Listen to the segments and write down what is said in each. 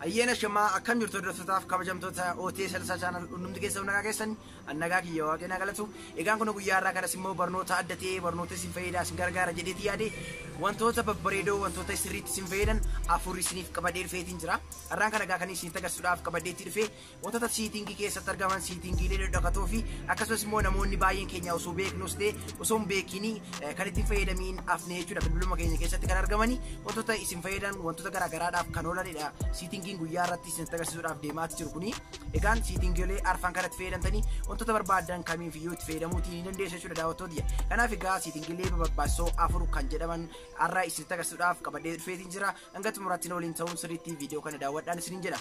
Ayyeena shamaa akkam jirtu hordoftotaaf kabajamtoota OT Salsaa Channel hundumti keessa nagaa keessan annagaa kiyya waaqeen galatu egaan kun guyyaa irraa kanas immoo barnoota adda ta'ee barnoota isin fayyadaa isin gargaara jedheeti yaade wantoota babbareedoo wantoota sirriitti isin fayyadan afur isiniif qabadee dhufeetiin jira har'aan kana egaa kan isin agarsiisuudhaaf qabadheetti dhufe Wantoota siitingii keessatti argaman siitingiilee dhadhakatoo fi akkasumas immoo namoonni baay'een keenya osoo beeknus ta'e osoo hin beekiin kan ittiin fayyadamiin afnee jechuudha bilbiluma keenya keessatti kan argamani wantoota isin fayyadan wantoota garaagaraadhaaf kan oolanidha siitingiin guyyaa irratti isin agarsiisuudhaaf deemaati jiru kuni egaan siitingiilee arfan kanatti fayyadamtanii wantoota barbaadan kamiif iyyuu itti fayyadamuuti ni dandeessu jechuudha daawwattoota kanaaf egaa siitingiilee barbaachisoo afur kan jedhaman har'a isin agarsiisuudhaaf qabadee dhufeetiin jira hanga xumuraatti waliin ta'uun sirriitti viidiyoo kana daawwadhaan isiniin jedha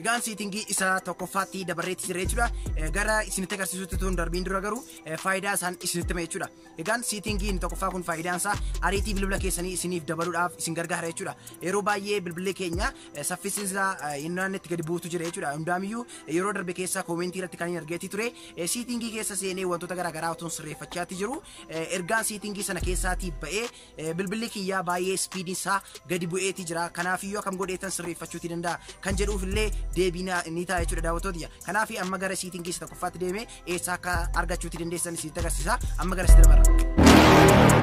Egaan seetingii isa tokkoffaatti dabarreetti jira jechuudha. Eh, Gara isinitti agarsiisutti tun darbiin dura garuu eh, faayidaa isaan isinitti hima jechuudha. Egaan seetingii inni tokkoffaa kun faayidaan isaa ariitii bilbila keessanii isiniif dabaluudhaaf isin gargaara jechuudha. Yeroo baay'ee bilbilli keenya eh, saffisi isaa eh, hin naannetti gadi buutu jira jechuudha. Hundaamiyyuu eh, yeroo darbe keessa koomentii irratti kan hin argeetti ture. Eh, Seetingii keessa seenee wantoota garaagaraa otoo sirreeffachaatti jiru. Eh, Ergaan seetingii sana keessaatii ba'ee Eh, Bilbilli kiyyaa baay'ee ispiidiin isaa gadi bu'eeti jira. Kanaafiyyuu akkam godheetan sirreeffachuuti danda'a. Kan jedhuuf illee deebii na- ni ta'a jechuudha daawwattootiyya. Kanaaf amma gara siitiin keessa tokkoffaatti deemee eessaa akka argachuuti dandeessan isinitti agarsiisa. Amma gara sitti dabarra.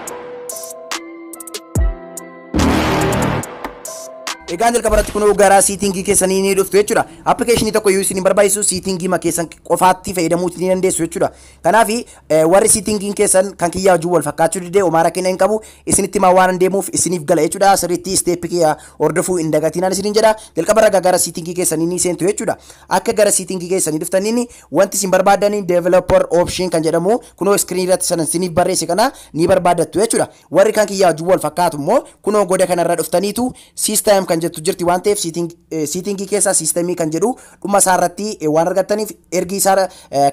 Egaa jalqaba irratti kunoo gara siitingii keessanii ni dhuftu jechuudha. Appikeeshinii tokko iyyuu isin hin barbaachisu siitingii ma keessan qofaatti fayyadamuuti ni dandeessu jechuudha. Kanaaf warri sittingiin keessan kan kiyyaa wajjin wal fakkaachuu didee homaa rakkina hin qabu isinitti himaa waan deemuuf isiniif gala jechuudha sirriitti isteeppi kiyya hordofuu hin dagatinaan isiniin jedha jalqaba irra gara sittingii keessanii ni seentu jechuudha akka gara sittingii keessanii dhuftaniin wanti isin barbaadanii developer option kan jedhamu kunoo iskiriin irratti sanan isiniif barreesse kana ni barbaadattu jechuudha warri kan kiyyaa wajjin wal fakkaatu immoo kunoo goda kanarra dhuftaniitu system kan jettu jirti waan ta'eef sittingii keessaa systemii kan jedhu dhuma isaa irratti waan argattaniif ergi isaa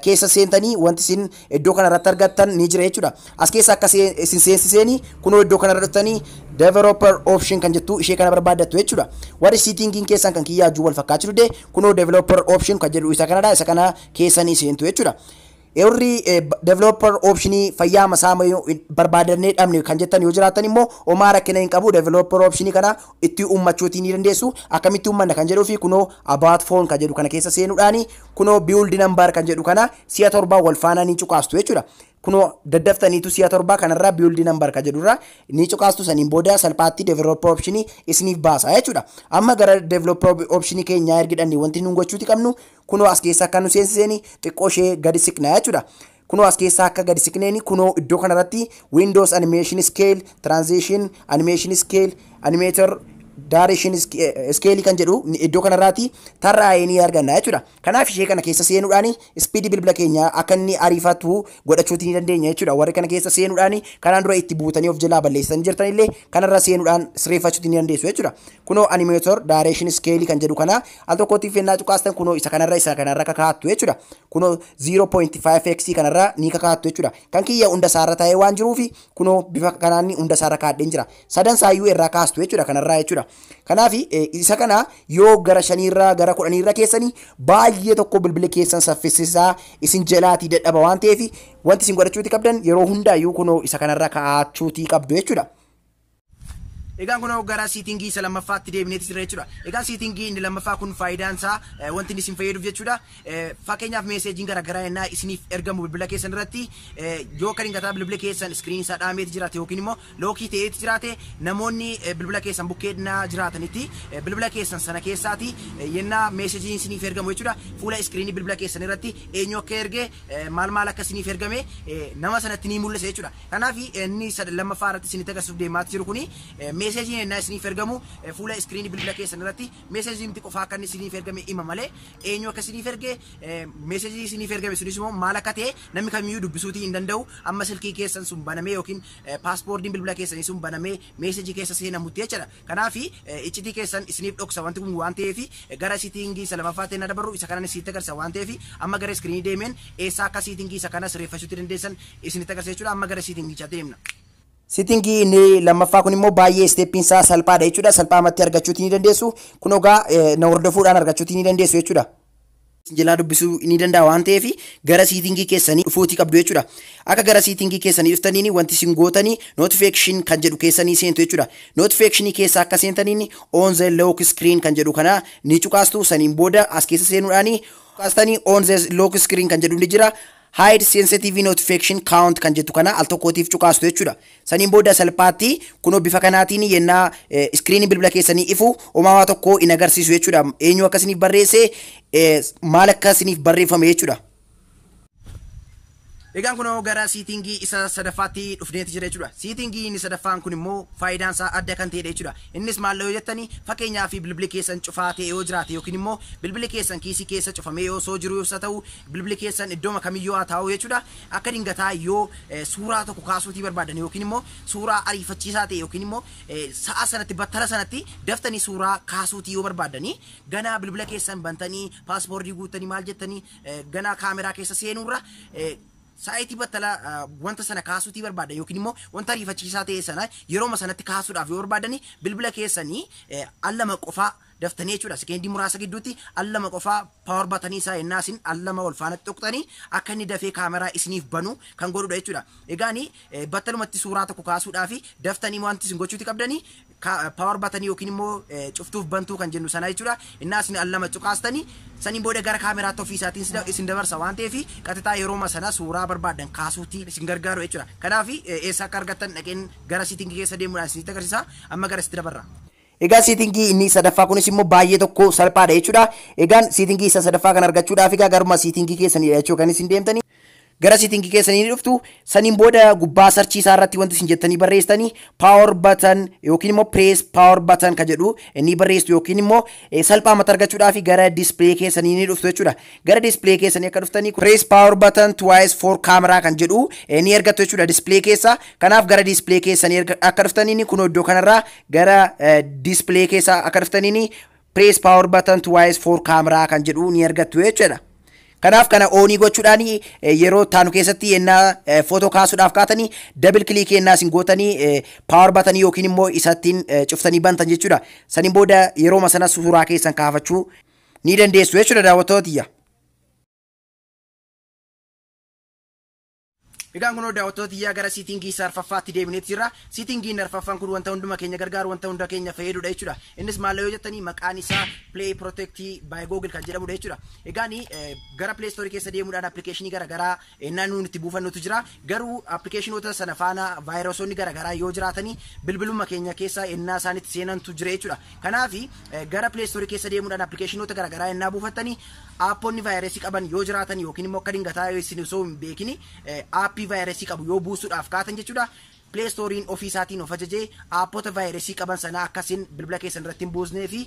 keessa seentanii wanti isin iddoo kana irratti argattan ni jira jechuudha. As keessa akka isin seensiseeni kunoo iddoo kana irra dhuftanii developer option kan jettu ishee kana barbaaddattu jechuudha. Warri siitingiin keessan kan kiyyaa wajjin wal fakkaachuu dide kunoo developer option kan jedhu isa kanadha isa kana keessanii seentu jechuudha. Warri developer optionii fayyaa masaa barbaadannee dhabne kan jettan yoo jiraatan immoo homaa rakkina hin qabu developer optionii kana itti uummachuutii ni dandeessu akkamitti uummanna kan jedhuu fi kunoo about phone kan jedhu kana keessa seenuudhaani kunoo build number kan jedhu kana si'a torbaa wal faanaa ni cuqaastu jechuudha. Kunoo daddaftaniitu si'a torbaa kanarraa build number kan jedhurraa ni cuqaastu saniin booda salphaatti developer optionii isiniif baasa jechuudha. Amma gara developer optionii keenyaa ergidhanne wanti nuun gochuuti qabnu Kunoo as keessa akka nu seensiseeni xiqqoo ishee gadi siqnaa jechuudha. Kunoo as keessa akka gadi siqneeni kunoo iddoo kanarratti Windows Animation Scale, Transition, Animation Scale, Animator, Direction Scale kan jedhu iddoo kanarraati tarraa'ee ni arganna jechuudha. Kanaaf ishee kana keessa seenuudhaan ispiidii bilbila keenyaa akka inni ariifatu godhachuuti ni dandeenya jechuudha. Warri kana keessa seenuudhaan kanaan dura itti buutanii of jalaa balleessanii jirtanillee kanarra seenuudhaan sireeffachuuti ni dandeessu jechuudha. Kunoo Animator, Direction Scale kan jedhu kana Al tokkootiif ennaa cuqaastan kunoo isa kanarra isa kanarra kakaattu jechuudha. Kunoo 0.5x kanarra ni kakaattu jechuudha. Kan kiyya hunda isaarra taa'ee waan jiruuf kunoo bifa kanaan hunda isaarra kaadheen jira. Sadan isaayyuu irraa kaastu jechuudha kanarraa jechuudha. Kanaaf isa kana yoo gara shaniirra gara kudhaniirra keessanii baay'ee tokko bilbila keessan saffisisaa isin jalaatii dadhaba waan ta'eef wanti isin godhachuuti qabdan yeroo hundaayyuu kunoo isa kanarra kaa'achuutii qabdu jechuudha. Egaan kunoo gara siitingii isa lammaffaatti deebineeti jirra jechuudha. Egaa siitingii inni lammaffaa kun faayidaan isaa eh, wanti inni isin fayyaduuf jechuudha. Eh, Fakkeenyaaf meeseejiin garaagaraa ennaa isiniif ergamu bilbila keessan irratti eh, yoo kan hin gataa bilbila keessan iskiriin isaa dhaameeti jiraate yookiin immoo lookii ta'eeti jiraate namoonni eh, bilbila keessan bukkee ennaa jiraatanitti eh, bilbila keessan sana keessaati eh, yennaa meeseejiin isiniif ergamu jechuudha. Fuula iskiriinii bilbila keessan irratti eenyu akka erge eh, maal maal akka isiniif ergame eh, nama sanatti ni mul'isa jechuudha. Kanaaf inni sad lammaffaa irratti isinitti agarsiisuuf deemaati jiru kuni meeseejiin ennaa isiniif ergamu fuula iskiriinii bilbila keessan irratti meeseejii miti qofaa akka inni isiniif ergame hima malee eenyu akka isiniif erge meeseejii isiniif ergame sunis immoo maal akka ta'e namni kamiyyuu dubbisuutii hin danda'u amma silkii keessan sun banamee yookiin paaspoordiin bilbila keessanii sun banamee meeseejii keessa seenamutti jechuudha. Kanaafi, iccitii keessan isiniif dhoksa wanti kun waan ta'eefi, gara sitiingii isa lamaffaatti hennaa dabarru isa kanan isinitti agarsiisa waan ta'eefi, amma gara iskiriinii deemeen eessaa akka sitiingii isa kana sireeffachuutti dandeessan isinitti agarsiisa jechuudha. Amma gara sitiingichaatti deemna. Sitiingii inni lammaffaa kun immoo baay'ee isteeppiin isaa salphaadha jechuudha. Salphaamatti argachuutii ni dandeessu. Kunoo egaa na hordofuudhaan argachuutii ni dandeessu jechuudha. jalaa dubbisuu ni danda'a waan ta'eef gara siitingii keessanii dhufuutii qabdu jechuudha. Akka gara siitingii keessanii dhuftaniin wanti isin gootanii notification kan jedhu keessanii seentu jechuudha. Notification keessa akka seentaniin on the lock screen kan jedhu kana ni cuqaastu saniin booda as keessa seenuudhaanii cuqaastanii on the lock screen kan jedhu ni jira. Hide sensitive notification count kan jettu kana al tokkootiif cuqaastu jechuudha. Saniin booda salphaatti kunoo bifa kanaatiin yennaa iskiriinii bilbila keessanii ifu homaa waa tokko hin agarsiisu jechuudha. Eenyu akka isiniif barreesse maal akka isiniif barreeffame jechuudha. Egaan kunoo gara siitingii isa sadaffaatti dhufneeti jira jechuudha. Siitingii inni sadaffaan kun immoo faayidaan isaa adda kan ta'edha jechuudha. Innis maalla yoo jettani fakeenyaaf bilbili keessan cufaa ta'e yoo jiraate yookiin immoo bilbili keessan kiisii keessa cufamee yoo osoo jiruus haa ta'u bilbili keessan iddooma kamiyyuu haa taa'u jechuudha akka dingataa yoo suuraa tokko kaasuutii barbaadan yookiin immoo suuraa ariifachiisaa ta'e yookiin immoo sa'a sanatti battala sanatti daftanii suuraa kaasuutii yoo barbaadanii ganaa bilbila keessan bantanii paaspoortii guuttanii maal jettanii ganaa kaameraa keessa seenuurra Sa'aatii battala wanta sana kaasuutii barbaadan yookiin immoo wanta ariifachiisaa ta'e sana yerooma sanatti kaasuudhaaf yoo barbaadan bilbila keessanii al lama qofaa daftanii jechuudha. Sekeendii muraasa gidduutti al lama qofaa paawar batanii isaa ennaa isin al lama wal faana tuqxanii akka inni dafee kaameraa isiniif banu kan godhudha jechuudha. Egaani battalumatti suuraa tokko kaasuudhaaf daftanii wanti isin gochuuti qabdanii ka power button yookiin immoo eh, cuftuuf bantuu kan jennu sana jechuudha innaa isin al lama cuqaastanii saniin booda gara kaameraatti ofii isaatiin isin- isin dabarsa waan ta'eef qaxitaa yerooma sana suuraa barbaaddan kaasuutti isin gargaaru jechuudha kanaaf eh, eessa akka argattan dhaqeen gara siitingii keessa deemuudhaan isinitti agarsiisa amma gara sitti dabarra. Egaa siitingii inni sadaffaa kunis immoo baay'ee tokko salphaadha jechuudha. Egaan siitingii isa sadaffaa kan argachuudhaaf egaa garuma siitingii keessanidha jechuudha kan isin deemtanii. gara setting keessanii ni dhuftu saniin booda gubbaa sarchii isaa irratti wanti isin jettanii barreessitanii power button yookiin immoo press power button ka jedhu ni barreessitu yookiin immoo eh, salphaa mata argachuudhaaf gara display keessanii ni dhuftu jechuudha gara display keessanii akka dhuftanii press power button twice for camera kan jedhu eh, ni argattu jechuudha display keessa kanaaf gara display keessanii erga- akka dhuftanii kunoo iddoo kanarraa gara eh, display keessa akka dhuftanii Press power button twice for camera kan jedhu ni argattu jechuudha. Kanaaf kana oonii gochuudhaan yeroo taanu keessatti yennaa footoo kaasuudhaaf kaatanii dabil kiliikii yennaa isin gootanii paawar batanii yookiin immoo isattiin cuftanii bantan jechuudha. Saniin booda yerooma sana suuraa keessan kaafachuu ni dandeessu jechuudha daawwattoota tiyya. Egaan kunoo daawwattoota tiyyaa gara siitingii isa arfaffaatti deebineeti jirra. Siitingiin arfaffaan kun wanta hunduma keenya gargaaru wanta hunda keenya fayyadudha jechuudha. Innis maal yoo jettanii maqaan isaa Play Protect by Google kan jedhamudha jechuudha. Egaan gara Play Store keessa deemuudhaan appilikeeshinii garaagaraa ennaa nuun itti buufannutu jira. Garuu appilikeeshinoota sana faana vaayirasoonni garaagaraa yoo jiraatanii bilbiluma keenya keessa ennaa isaan itti seenantu jira jechuudha. Kanaaf gara Play Store keessa deemuudhaan appilikeeshinoota garaagaraa ennaa buufattanii Aapponni vaayirasii qaban yoo jiraatan yookiin immoo akka dingataa yoo isin osoo hin beekin aappii vaayirasii qabu yoo buusuudhaaf kaatan jechuudha, Play Store'n ofii isaatiin of ajajee aappota vaayirasii qaban sana akka isin bilbila keessan irratti hin buusnee fi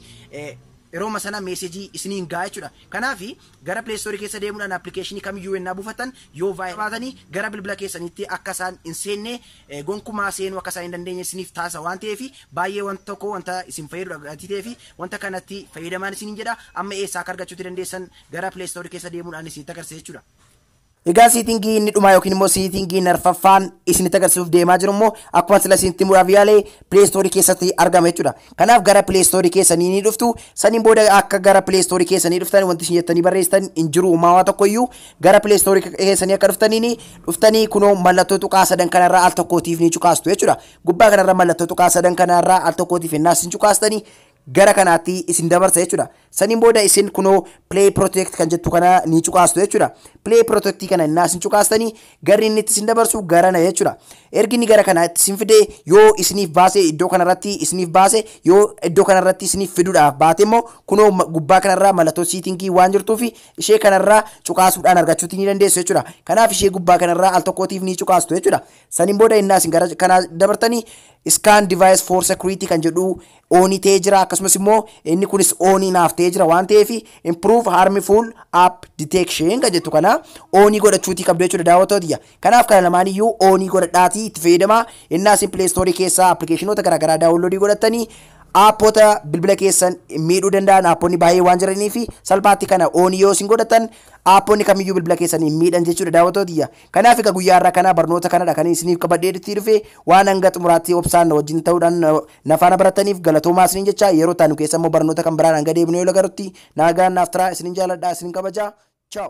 yerooma sana meeseejii isiniin ga'a jechuudha. Kanaaf gara Play Store keessa deemuudhaan appilikeeshinii kamiyyuu yennaa buufattan yoo vaayirasii qabaatanii gara bilbila keessaniitti akka isaan hin seenne gonkumaa seenuu akka isaan hin dandeenye isiniif taasisa waan ta'eef baay'ee wanta tokko wanta isin fayyadudha gatii ta'eef wanta kanatti fayyadamaan isiniin jedha amma eessaa akka argachuutti dandeessan gara Play Store keessa deemuudhaan isinitti agarsiisa jechuudha. Egaa siitingii inni dhumaa yookiin immoo siitingii narfaffaan isinitti agarsiisuuf deemaa jiru immoo akkuma sila isinitti muraaf yaale Play Store keessatti argama jechuudha. Kanaaf gara Play Store keessanii ni dhuftu saniin booda akka gara Play Store keessanii dhuftan wanti isin jettanii barreessitan hin jiru uumaa waa tokkoyyuu Gara Play Store keessanii akka dhuftaniin dhuftanii kunoo mallattoo tuqaa sadan kanarraa al tokkootiif ni cuqaastu jechuudha. Gubbaa kanarra mallattoo tuqaa sadan kanarraa al tokkootiif ennaa isin cuqaastanii gara kanaatti isin dabarsa jechuudha. Saniin booda isin kunoo Play Protect kan jettu kana ni cuqaastu jechuudha. Play Protect kana ennaa isin cuqaastanii garri inni itti isin dabarsu garana jechuudha. Ergi inni gara kanaatti isin fidee yoo isiniif baase iddoo kanarratti isiniif baase yoo iddoo kanarratti isiniif fiduudhaaf baate immoo kunoo gubbaa kanarraa mallattoo siitingii waan jirtuuf ishee kanarraa cuqaasuudhaan argachuutti ni dandeessu jechuudha. Kanaaf ishee gubbaa kanarraa al tokkootiif ni cuqaastu jechuudha. Saniin booda innaa isin gara kanaa dabartanii scan device for security kan jedhu oonii ta'ee jira akkasumas immoo inni kunis oonii naaf ta'ee jira waan ta'eef improve harmful app detection kan jettu kana oonii godhachuutii qabdu jechuudha daawwattootiyya. Kanaaf kana lamaan iyyuu oonii godhadhaatii itti fayyadamaa hennaa isin play store keessaa appilikeeshinoota garaagaraa daawunloodii godhattanii aappota bilbila keessan miidhuu danda'an aapponni baay'ee waan jiranii fi salphaatti kana oonii yoo isin godhatan aapponni kamiyyuu bilbila keessan hin miidhan jechuudha daawwatootiyya. Kanaaf egaa guyyaa irraa kana barnoota kanadha kan isiniif qabadhee itti dhufe waan hanga xumuraatti obsaan na wajjin ta'uudhaan na- na faana barattaniif galatoomaa isiniin jecha yeroo taanu keessa immoo barnoota kan biraan hanga deebinu yoo lagarutti naagaan naaf taraa isinin jaaladha isinin kabaja. Ciao.